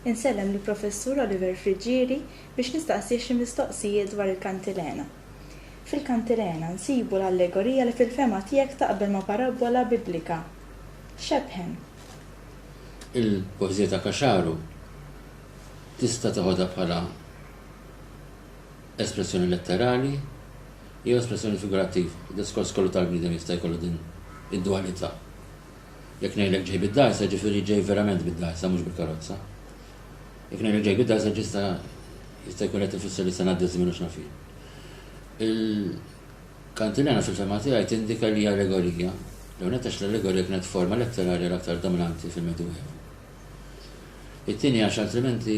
Insellem lill-Professur Oliver Friggieri biex nistaqsih xi mistoqsijiet dwar il-kantilena. Fil-kantilena nsibu l-allegorija li fil-fehma tiegħek taqbel ma' parabbola Biblika. X'ebħen? Il-poeżija ta' Caxaro Tista' teħodha bħala espressjoni letterali jew espressjoni figurattiva. Id-diskors kollu tal-bniedem jista' jkollu din id-dwalità. Jekk ngħidlek ġej bid-dgħajsa, jiġifieri ġej verament bid-dgħajsa, mhux bil-karozza. Jekk ngħidlek ġej bid-dgħajsa ġista' jista' jkun qed ifisser li se ngħaddi ż-żmien u x'nafien. Il-kantilena fil-fehma tiegħi tindika li hija allegorija, l-ewwel nett għax l-allegorija kienet forma letterarja l-aktar dominanti fil-Medjuevu. It-tieni għax altrimenti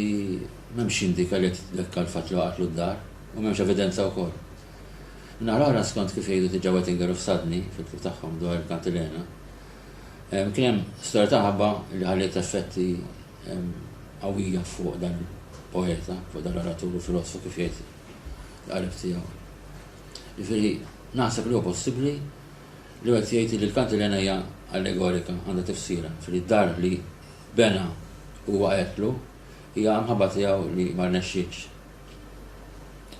m'hemmx x'jindika li qed jitdekka l-fatt li waqgħatlu d-dar u m'hemmx evidenza wkoll. Min-naħa l-oħra, skont kif jgħidu diġà Wettinger u Fsadni fil-ktieb tagħhom dwar il-Kantilena, kien hemm storja ta' ħabba li ħalliet effetti qawwija fuq dan il-poeta, fuq dan l-oratur u filosofu kif jgħid l-qarib tiegħu. Jiġifieri naħseb li huwa possibbli li wieħed jgħid li l-kantilena hija allegorika, għandha tifsira, ġifieri d-dar li bena u waqgħetlu hija mħabba tiegħu li ma rnexxietx.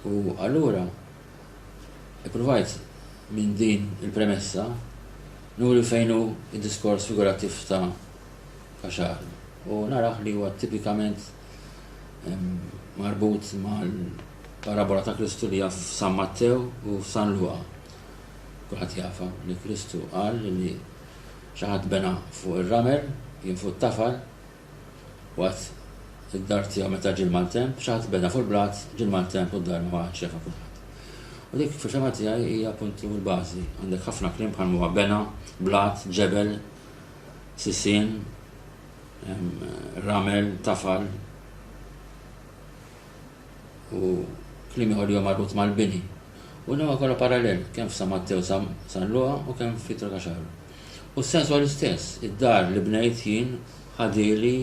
U allura ippruvajt minn din il-premessa nuri fejn hu d-diskors figurattiv ta' Kaxar u narah li huwa tipikament marbut mal-parabola ta' Kristu li hija f'San Mattew u f'San Luqa. Kulħadd jafha li Kristu qal li xi ħadd bena fuq ir-ramel, kien fuq it-tafal, waqt id-dar tiegħu meta ġie l-maltemp, xi ħadd bena fuq il-blat, ġie l-maltemp u d-dar ma baqgħetx jafha kulħadd. U dik fil-fehma tiegħi hija appuntu l-bażi. Għandek ħafna kliem bħal huwa bena, blat, ġebel, sisien, ramel, tafal. u kliem ieħor li huwa marbut mal-bini. U dan kollu parallel, kemm f'San Mattew San Luqa u kemm fi Trakaxaru. U s-sens huwa l-istess, id-dar li bnejt jien ħadieli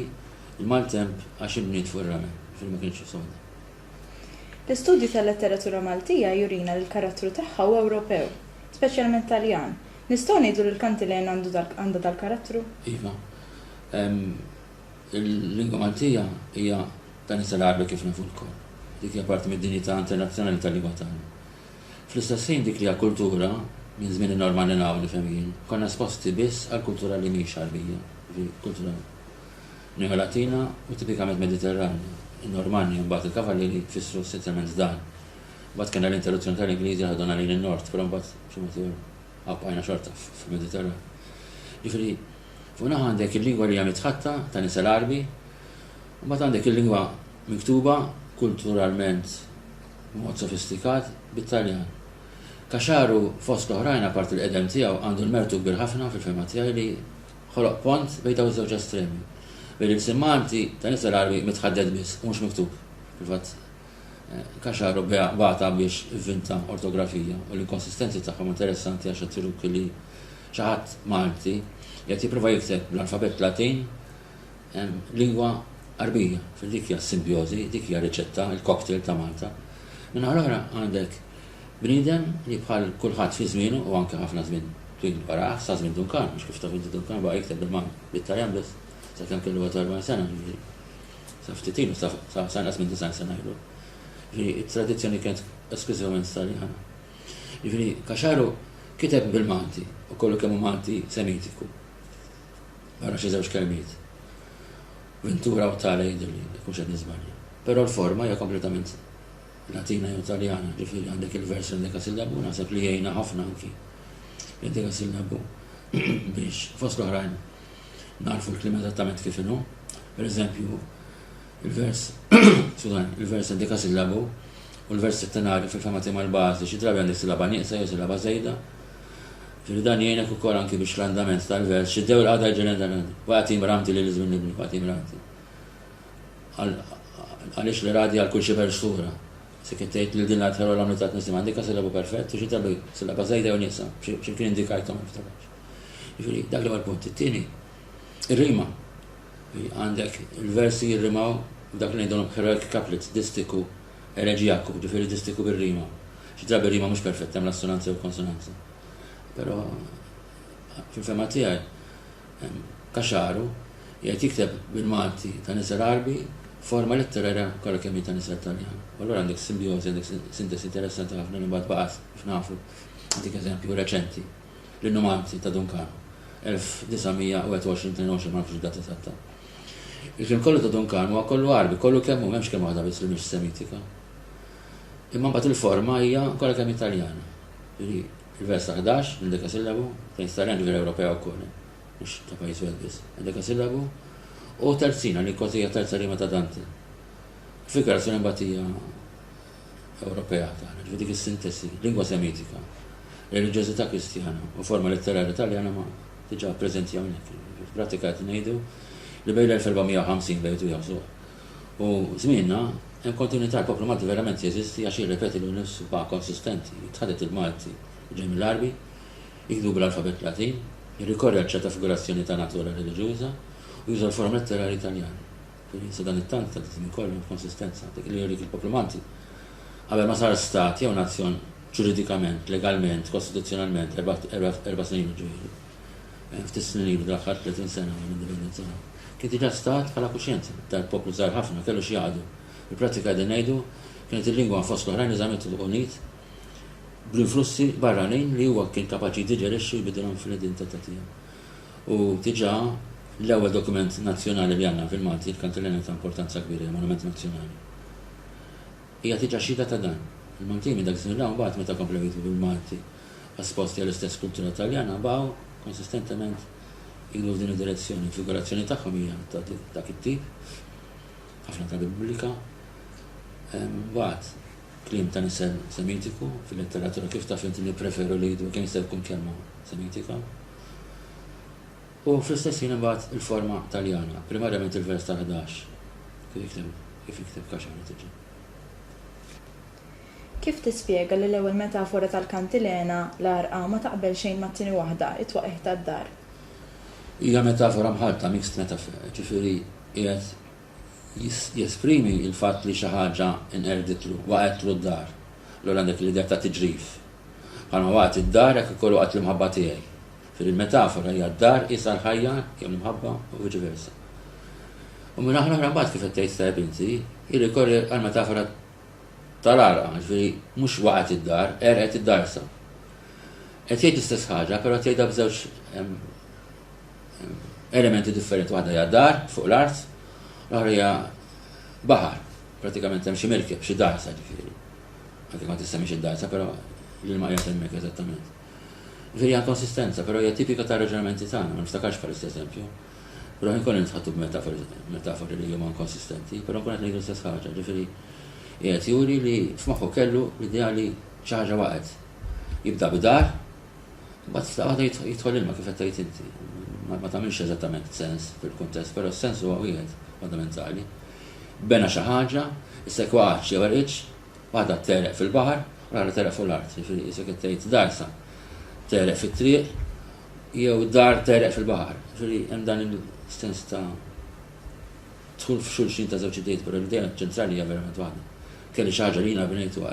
l-maltemp għax inbniet fuq ir-ramel, ġifieri ma kienx soda. L-istudju tal-letteratura Maltija jurina li l-karattru tagħha huwa Ewropew, speċjalment Taljan. Nistgħu ngħidu li l-kantilena għandha dal-karattru? Iva. Il-lingwa Maltija hija Dan jista' ngħaqdu kif nafu lkoll. Dik hija parti mid-dinjità internazzjonali tal-lingwa tagħna. Fl-istess ħin dik li hija kultura, minn żmien in-normal li naf, nifhem jien, konna esposti biss għal kultura li mhix Għarbija, jiġifieri kultura Neolatina u tipikament Mediterranja. In-Normanni u mbagħad il-Kavallieri fissru essenzjalment dan. Mbagħad kellna l-interruzzjoni tal-Ingliżi li ħaduna lejn in-Nord, però mbagħad b'xi mod ieħor għabbqajna xorta fil-Mediterran. Jiġifieri, fuq naħa għandek il-lingwa li hija mitħatta ta' nies Għarbi Imbagħad għandek il-lingwa miktuba, kulturalment b'mod sofistikat, bit-Taljan. Caxaru, fost l-oħrajn, apparti l-qedem tiegħu, għandu l-mertu kbir ħafna, fil-fehma tiegħi, li ħoloq pont bejn dawn iż-żewġ estremi, bejn il-ħsieb Malti ta' Nizza l-Għarbi mitħadded biss u mhux miktub. Fil-fatt, Caxaru bagħatha biex ivvinta ortografija u l-inkonsistenzi tagħha huma interessanti għax qed juruk li xi ħadd Malti qiegħed jipprova jikteb bl-alfabett Latin Lingwa Għarbija, dik hija s-simbjożi, dik hija r-riċetta, il-cocktail ta' Malta. Min-naħa l-oħra għandek bniedem li bħal kulħadd fi żmienu u anke ħafna żmien twil warah, sa żmien Duncan, għax kif taf inti Duncan baqa' jikteb bil-Malti, bit-Taljan biss, sakemm kellu 40 sena, jiġifieri sa ftit ilu, sa sa inqas minn 90 sena ilu. Jiġifieri it-tradizzjoni kienet esklużivament Taljana. Jiġifieri Kaxaru kiteb bil-Malti u kollu kemm hu Malti Semitiku. Ara xi żewġ kelmiet. Ventura u tale jidhirli li nkunx qed niżbalja. Però l-forma hija kompletament Latina jew Taljana, ġifieri għandek il-vers l-endekasillabu, naħseb li jgħinna ħafna anki l-endekasillabu biex fost l-oħrajn narfu l-kliem eżattament kif inhu. Per eżempju, il-vers, skużan, il-vers endekasillabu u l-vers settenari fil-fema tiegħi mal-bażi xi drabi għandek silaba nieqsa jew silaba żejda, Ġifieri dan jgħinek ukoll anki biex l-andament tal-vers, xiddew il-qagħda jġenna dan, wa jagħti mramti lil iż-żmien nibni, wa jagħti mramti. Għaliex li radi għal kull xi persura. Se kien tgħid lil din l-adħera l-għamli ta' tnissim għandika silabu perfett u xi tabi silaba żejda u nieqsa, xi kien indikajthom niftakar. Ġifieri dak li punt it-tieni. Ir-rima. Għandek il-versi jirrimaw dak li ngħidulhom heroic couplets, distiku Eleġijaku, jiġifieri distiku bir-rima. Xi drabi r-rima mhux perfetta hemm l-assonanzi jew il-konsonanzi. Però fil-fehma tiegħi Kaxaru jgħid jikteb bil-Malti ta' nisel Għarbi forma letterarja kollha kemm hi ta' nisel Taljan. U allura għandek simbjożi, għandek sintesi interessanti ħafna li mbagħad baqgħet kif nafu. Nagħtik eżempju reċenti. l-innumanti ta' Duncan, 1921-22 ma nafx id-data eżatta. Il-krim kollu ta' Duncan huwa kollu Għarbi, kollu kemm hu m'hemmx kemm waħda biss li mhix Semitika. Imma mbagħad il-forma hija kollha kemm Italjana. Ġifieri il-vers ta' 11 minn dekasillabu, fejn Starjan ġifieri Ewropea wkoll, mhux ta' pajjiż wieħed biss, dekasillabu, u terzina li kważi hija terza rima ta' Dante. Figurazzjoni mbagħad hija Ewropea tagħna, ġifieri dik is-sintesi, lingwa Semitika, reliġjożità Kristjana u forma letterarja Taljana ma diġà preżenti hawnhekk. Fil-prattika qed ngħidu li bejn l-1450 bejtu jaħżu u żmienna hemm kontinwità l-poplu Malti verament jeżisti għax jirrepeti lilu nnifsu baqa' konsistenti, tħadet il-Malti ġej mill-Għarbi, jikdu bl-alfabett Latin, jirrikorri għal ċerta figurazzjoni ta' natura reliġjuża u juża l-forma letterarji Taljani. Li sadanittant ta' żmien kollu inkonsistenza dik li jurik il-poplu Malti, qabel ma sar stat jew nazzjon ġuridikament, legalment, kostituzzjonalment erba' snin ilu, jiġifieri ftit snin ilu dal-aħħar 30 sena mill-indipendenza tagħna, kien diġà stat bħala kuxjenza ta' poplu żgħir ħafna, kellu xi jaqdu. Fil-prattika qegħdin ngħidu, kienet il-lingwa fost l-oħrajn eżamitu unit bl-influssi barranin li huwa kien kapaċi jdiġerixxi u jbiddilhom fl-identità tiegħu. U diġà l-ewwel dokument nazzjonali li għandna fil-Malti, il-Kantilenja ta' importanza kbira, hija monument nazzjonali. Hija diġà xhieda ta' dan. Il-Maltin minn dak iż-żmien 'l hawn mbagħad meta komplew jiktbu bil-Malti esposti għall-istess kultura Taljana baqgħu konsistentement jikbru f'din id-direzzjoni. Il-figurazzjoni tagħhom hija ta' dak it-tip, ħafna tal-Repubblika. Mbagħad, Kliem ta' nisel Semitiku, fil-letteratura kif taf int nippreferu li jidhru kemm jista' jkun kelma Semitika. U fl-istess ħin imbagħad il-forma Taljana, primarjament il-vers tal-ħdax, kif jikteb, kif jikteb Kaxar li tiġi. Kif tispjega li l-ewwel metafora tal-kantilena, l-għarqa, ma taqbel xejn mat-tieni waħda, it-twaqigħ tad-dar? Hija metafora mħallta, mixed metaphor, jiġifieri qiegħed jesprimi l-fatt li xi ħaġa nqerditlu, waqgħetlu d-dar, allura għandek l-idea ta' tiġrif. Bħalma waqgħet id-dar hekk ukoll waqgħet l-imħabba tiegħi. Fil-metafora hija d-dar qisha l-ħajja jew l-imħabba u viċi versa. U minn naħa l-oħra mbagħad kif qed tgħid tajjeb inti, jirrikorri għall-metafora tal-għarqa, ġifieri mhux waqgħet id-dar, qerqet id-darsa. Qed jgħid l-istess ħaġa, però tgħidha b'żewġ elementi differenti waħda hija dar fuq l-art, l-oħra hija baħar. Pratikament hemm xi merkeb, xi dajsa ġifieri. Għadek ma tista' mhix id-dajsa, però li ma qiegħed hemmhekk eżattament. Ġifieri hija konsistenza, però hija tipika ta' raġunamenti tagħna, ma niftakarx bħal eżempju. Però ħin kollu nitħattu b'metafori metafori li huma inkonsistenti, però nkun qed ngħidu l-istess ħaġa, ġifieri qiegħed juri li f'moħħu kellu l-idea li xi ħaġa waqgħet. Jibda bidar, Imbagħad f'daqqa ta' jidħol ilma kif qed tgħid inti. Ma tagħmilx eżattament sens fil-kuntest, però s-sens huwa wieħed fundamentali. Bena xi ħaġa, issa jekk waqgħetx jew erqitx, waħda tegħreq fil-baħar u l-oħra tegħreq fuq l-art. Jiġifieri qisek qed tgħid dar sa tegħreq fit-triq jew dar tegħreq fil-baħar. Jiġifieri hemm dan il-sens ta' dħul f'xulxin ta' żewġ idejt, però l-idea ċentrali hija verament waħda. Kelli xi ħaġa li jiena binejtuha